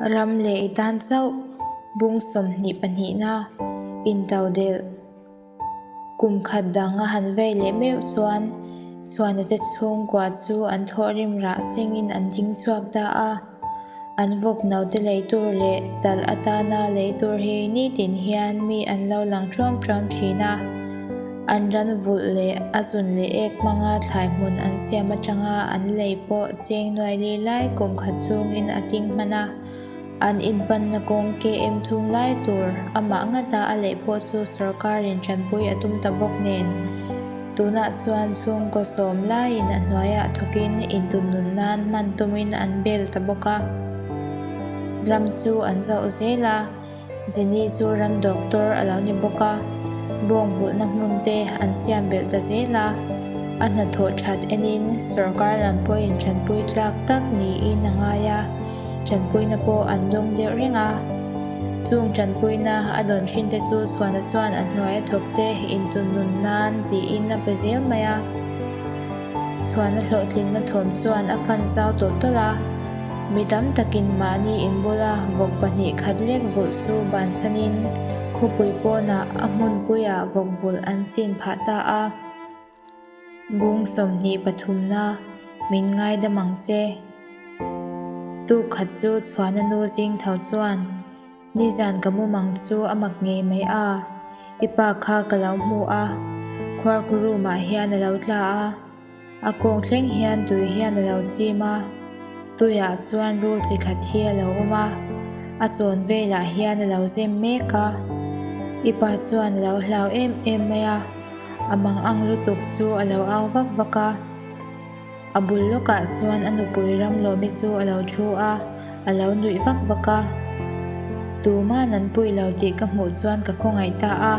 Ram leh i tan chauh bung sawmhnih pahnihna in taudelh kum khat dang a han vei leh meuh chuan chhuanate chhungkua chu an thawh rim rah sengin an ding chhuak ta a. An vawk naute lei tur leh tal atana lei tur hi nitin hian mi an lo lang ṭuam ṭuam ṭhin a, an ranvulh leh a zun leh ek hmanga thlai hmun an siam aṭanga an lei pawh cheng nuai li lai kum khat chungin a tling hman a, an inhmanna kawng KM thung lai tur amah ngata a lei pawh chu sorkar in ṭanpui a tum ta bawk nen. Tunah chuan chhungkaw sawm laiin a hnuaiah thawkin intunnun nan hman tumin an bel ta bawk a, ram chu an zauh zel a, Jenny chu ram doctor a lo ni bawk a, bawngvulhna hmun te an siam belh ta zel a, a hnathawh that enin sorkar lam pawhin thanpui tlak tak niin a ngai a. Chanpuina pawh an dawng dirh reng a. Chung chanpuina a dawn thin te chu chhuana chuan a hnuai a chawp te in tun nun nan tiin a pe zel mai a. Chhuana hlawhtlinna thawm chuan a fan zau tawlh tawlh a. Mi tam takin mahni in bula vawk pahnih khat lek vulh chu bansanin khawpui pawnah a hmunpuia vawk vulh an chin phah ta a. Bung sawmhnih pathumna min ngai dam ang che. Tukhat chu chhuahna nu zing tho chuan, Nizan ka mum ang chu a mak ngei mai a, i pa kha ka lo hmu a, khuarkhu room ah hian a lo tla a, a kawng thleng hian tui hian a lo chim a, tui ah chuan rul chi khat hi a lo awm a, a chawn vel ah hian a lo zem mek a, i pa chuan a lo hlau em em mai a. A bang ang lutuk chu a lo au vak vak a. A bul lawkah chuan a nupui Ramlawmi chu a lo thu a, a lo nuih vak vak a. Tuman an pui lo tih ka hmuh chuan ka khawngaih ta a,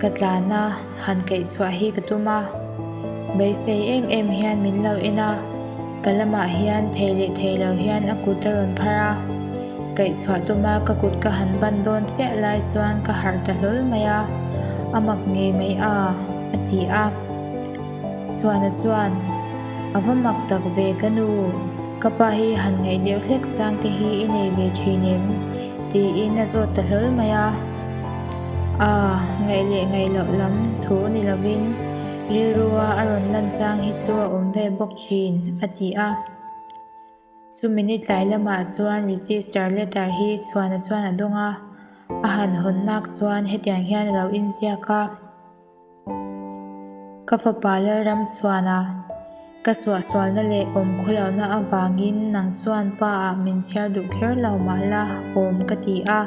ka tlan a, han kaihchhuah hi ka tum a. Beisei em em hian min lo en a. Ka lamah hian thei leh thei lo hian a kut a rawn phar a, kaihchhuah tuma ka kut ka han ban dawn chiah lai chuan ka harh ta hlawl mai a, a mak ngei mai a, a ti a. Chhuana chuan, A va mak tak ve ka nu, ka pa hi han ngaih deuh hlek chang te hi i nei ve thin em? tiin a zawt ta hlawl mai a. Aa, ngaih leh ngaih loh lam thu ni lovin, Rilrua a rawn lan chang hi chu a awm ve bawk thin, a ti a. Chumi ni tlai lamah chuan register letter hi chhuanah chuan a dawng a, a han hawn nak chuan hetiang hian a lo inziak a, Ka fapa Lalram chhuanah. Ka suahsualna leh awm khawlohna avangin nang chuan pa ah min chhiar duh kher lo mah la awm ka ti a.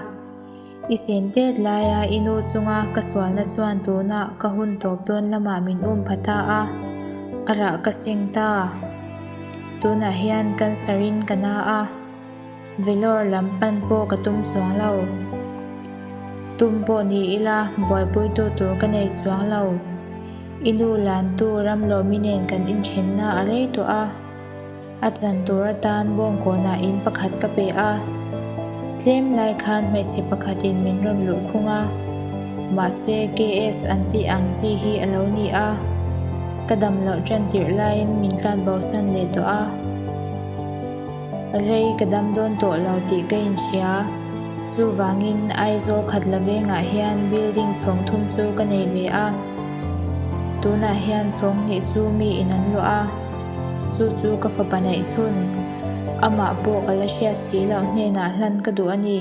I sen tet laia i nu chunga ka sualna chuan tunah ka hun tawp dawn lamah min um pha ta a, arah ka seng ta. Tunah hian cancer in ka na a. Vellawr lam pan pawh ka tum chuang lo. Tum pawh ni ila buaipuitu tur ka nei chuang lo. I nu Lantu Ramlawmi nen kan inthenna a rei tawh a. A chan tur atan Bawngkawnah in pakhat ka pe a. Tlem lai khan hmeichhe pakhatin min rawn luh khung a. Mahse KS an tih ang chi hi a lo ni a. Ka dam loh ṭan tirh laiin min tlanbosan leh tawh a. Rei ka dam dawn tawh lo tih ka inhria. Chuvangin Aizawl khat la vengah hian building chhawng thum chu ka nei ve a. Tunah hian chhawng hnih chu mi in an luah a, chu chu ka fapa neih chhun. Amah pawh ka la hriat si loh hnenah hlan ka duh a ni.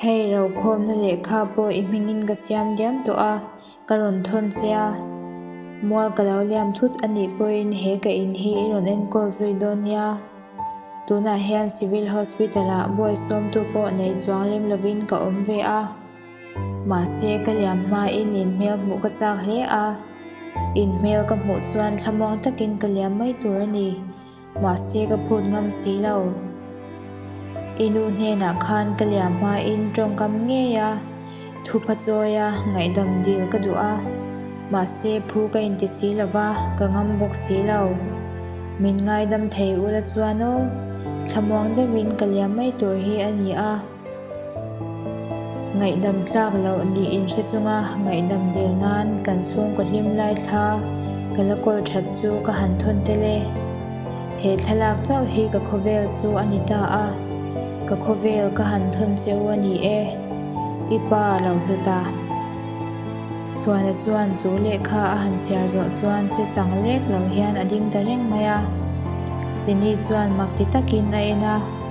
Hei rokhawmna lehkha pawh i hmingin ka siam diam tawh a, ka rawn thawn che a. Mual ka lo liam thut a nih pawhin he ka in hi i rawn enkawl zui dawn nia. Tunah hian Civil Hospital ah buai sawmtu pawh nei chuang lem lovin ka awm ve a. Mahse, ka liam hmain in hmel hmuh ka chak hle a. In hmel ka hmuh chuan thlamuang takin ka liam mai tur a ni. Mahse ka phut ngam si lo. I nu hnenah khan ka liam hmain tawngkam ngei a, thupa chawi a, ngaihdam dil ka duh a. Mahse phu ka inti si lova, ka ngam bawk si lo. Min ngaidam thei ula chuan aw, thlamuang deuhin ka liam mai tur hi a ni a. Ngaihdam tlak loh ni in hre chunga ngaihdam del nan kan chhungkaw hlim lai thla ka la call that chu ka han thawn tel e. He thlalak chauh hi ka khawvel chu a ni ta a, ka khawvel ka han thawn che u a ni e. I pa Rauhluta Chhuana chuan chu lehkha a han chhiar zawh chuan che chang lek lo hian a ding ta reng mai a. Chini chuan mak ti takin a en a.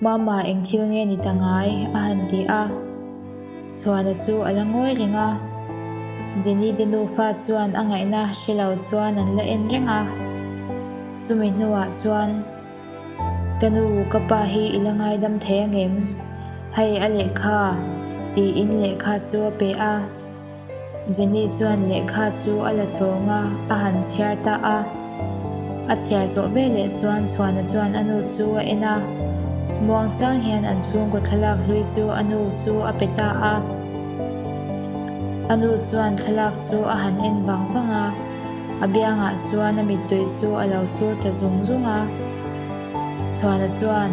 Mama eng thil nge ni ta ngai? a han ti a. Chhuana chu a la ngawi reng a. Jenny te nufa chuan a ngaihna hre lo chuan an la en reng a. Chumi hnuah chuan, Ka nu, ka pa hi i la ngaidam thei angem? Hei a lehkha, tiin lehkha chu a pe a. Jenny chuan lehkha chu a la chawng a, a han chhiar ta a. A chhiar zawh ve leh chuan Chhuana chuan a nu chu a en a. Muangchang hian an chhungkaw thlalak hlui chu a nu chu a pe ta a. A nu chuan thlalak chu a han en vang vang a. A biangah chuan a mittui chu a lo sur ta zung zung a. Chhuana chuan,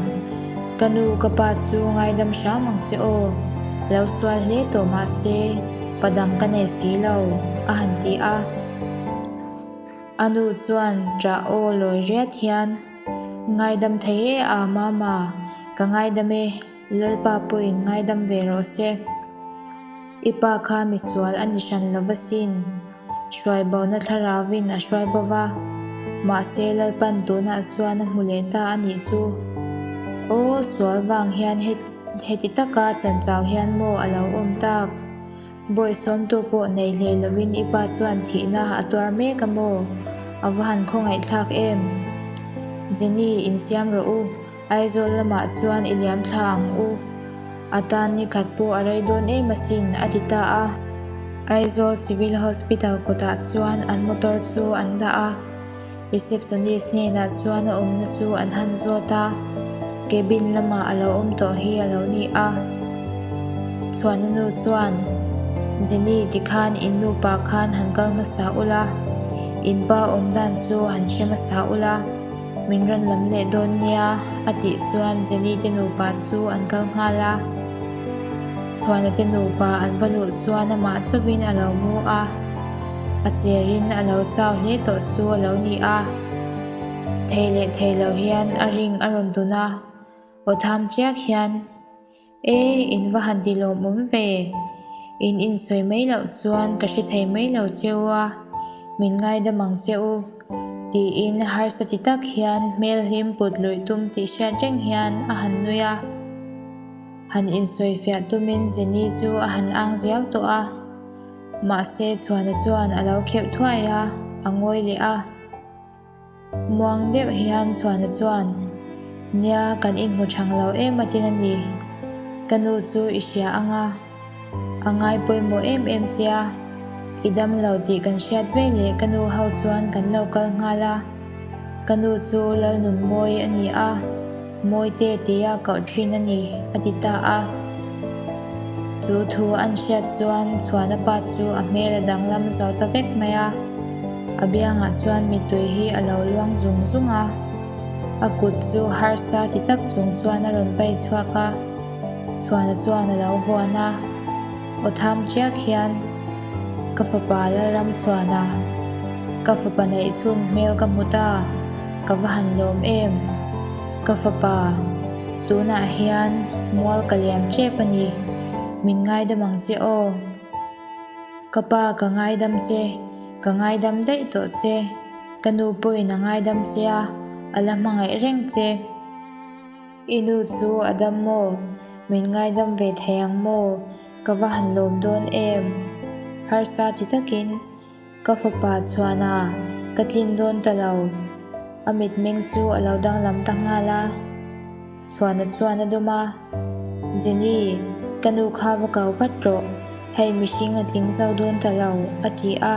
Ka nu ka pa chu ngaidam hram ang che aw, lo sual hle tawh mahse pa dang ka nei si lo, a han ti a. A nu chuan ta aw lawi riat hian, Ngaidam thei e a mama, ka ngaidam e. Lalpa pawhin ngaidam ve rawh se. I pa kha misual a ni hran lo va sin. Hruaibawna thlarauvin a hruai bo va. Mahse Lalpan tunah chuan a hmu leh ta a nih chu. Aw sual vang hian heti taka chanchau hian maw a lo awm tak. Bawi sawmtu pawh nei hlei lovin i pa chuan thihna a tuar mek a maw? A va han khawngaihthlak em? Jenny, insiam rawh u. Aizawl lamah chuan i liamthla ang u, a tan ni khat pawh a rei dawn em asin, a ti ta a. Aizawl Civil Hospital kawtah chuan an motor chu an dah a, receptionist hnenah chuan a awmna chu an han zawt a, cabin lamah a lo awm tawh hi a lo ni a. Chhuahna nu chuan, Jenny tikhan in nupa khan han kal hmasa ula, in pa awm dan chu han hre hmasa ula. Min rawn lam leh dawn nia, a tih chuan Jenny te nupa chu an kal nghal a. Chhuana te nupa an va luh chuan amah chuvin a lo mu a, a cherin a lo chau hle tawh chu a lo ni a. Thei leh thei lo hian a ring a rawn dun a, aw tham chiak hian. E, in va han ti lawm um ve. In insawi mai loh chuan ka hre thei mai lo che u a, min ngaidam ang che u, tiin harsa ti tak hian hmel hi in put luih tum tih hriat reng hian a han nui a. Han insawi fiah tumin Jenny chu a han ang ziau tawh a. Mahse, chhuana chuan a lo kheuh thuai a, a ngawi leh a. Muang deuh hian Chhuana chuan, Nia, kan inhmu chhang lo em atin a ni. Ka nu chu i hria ang a, a ngai pawimawh em em che a, i dam lo tih kan hriat ve leh ka nu ho chuan kan lo kal nghal a, ka nu chu Lalnunmawi a ni a. Mawite tia koh thin a nih a ti ta a. Chu thu an hriat chuan chhuahna pa chu a hmel a danglam zo ta vek mai a. A biangah chuan mitui hi a lo luang zung zung a. A kut chu harsa ti tak chung chuan a rawn vei chhuak a. Chhuahna chuan a lo vuan a. Aw tham chiak hian ka fapa la ram suan a, ka fapa neih chhun hmel ka hmu ta, ka va han lawm em, ka fapa tunah hian mual ka liam chep a ni, min ngaidam ang che aw, ka pa ka ngaidam che, ka ngaidam daih tawh che, ka nu pawhin a ngaidam che a, a la hmangaih reng che. I nu chu a dam maw? Min ngaidam ve thei ang maw? Ka va han lawm dawn em? Harsa ti takin ka fapa chhuanah ka tlin dawn ta lo. A mitmeng chu a lo danglam ta nghal a, chhuanah chuan a dum a, Jenny, ka nu kha va kau vat rawh, hei mihring a tling zau dawn ta lo, a ti a.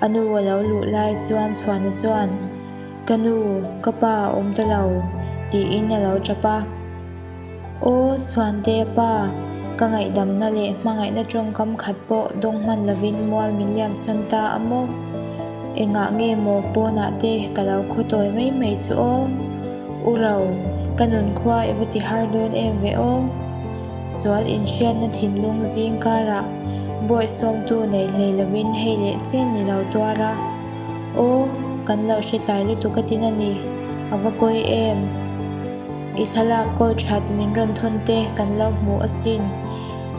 A nu a lo luh lai chuan Chhuana chuan, Ka nu, ka pa a awm ta lo, tiin a lo tap a. Aw Chhuante pa, ka ngaihdamna leh hmangaihna tawngkam khat pawh dawng hman lovin mual min liamsan ta a maw? Engah nge maw pawnah te ka lo khaw tawi mai mai chu aw? U ro, ka nun khua i va ti har dawn em ve aw. Sual inhriatna thinlung zing karah buai sawmtu neih hlei lovin hei leh chen ni lo tuar a, Aw, kan lo hretlai lutuk a tin a ni, a va pawi em? I thlalak kawl that min rawn thawn te kan lo hmuh asin,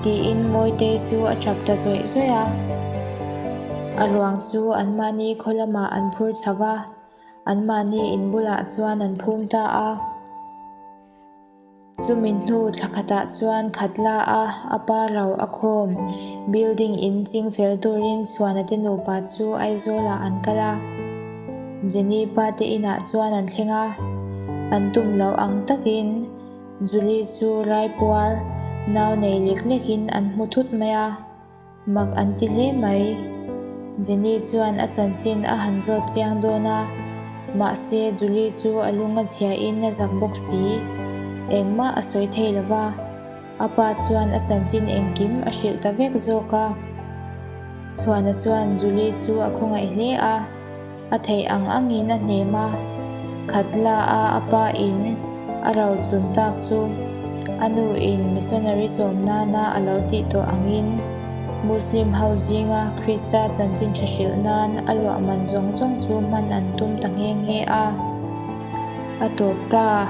tiin Mawitei chu a tap ta zawih zawih a. A ruang chu anmahni khaw lamah an phur chho va, anmahni in bulah chuan an phum ta a. Chumi hnu thla khatah chuan khat la a, a par lo a khawm. Building in ching fel turin Chhuana te nupa chu Aizawlah an kal a. Jenny pa te inah chuan an thleng a. An tum loh ang takin Julie chu raipuar nau nei lek lekin an hmu thut mai a. Mak an ti hle mai. Jenny chuan a chanchin a han zawt chiang dawn a, mahse Julie chu a lung a zhiahin a zak bawk si. Engmah a sawi thei lo va, a pa chuan a chanchin engkim a hrilh ta vek zawk a. Chhuana chuan Julie chu a khawngaih hle a. A theih ang angin a hnem a, khat la a a pa in a rau chun tak chu a nu in missionary sawm nana a lo tih tawh angin Muslim ho zinga Krista chanchin tha hrilh nan a luahman zawng zawng chu hman an tum ta nghe nghe a, a tawp ta.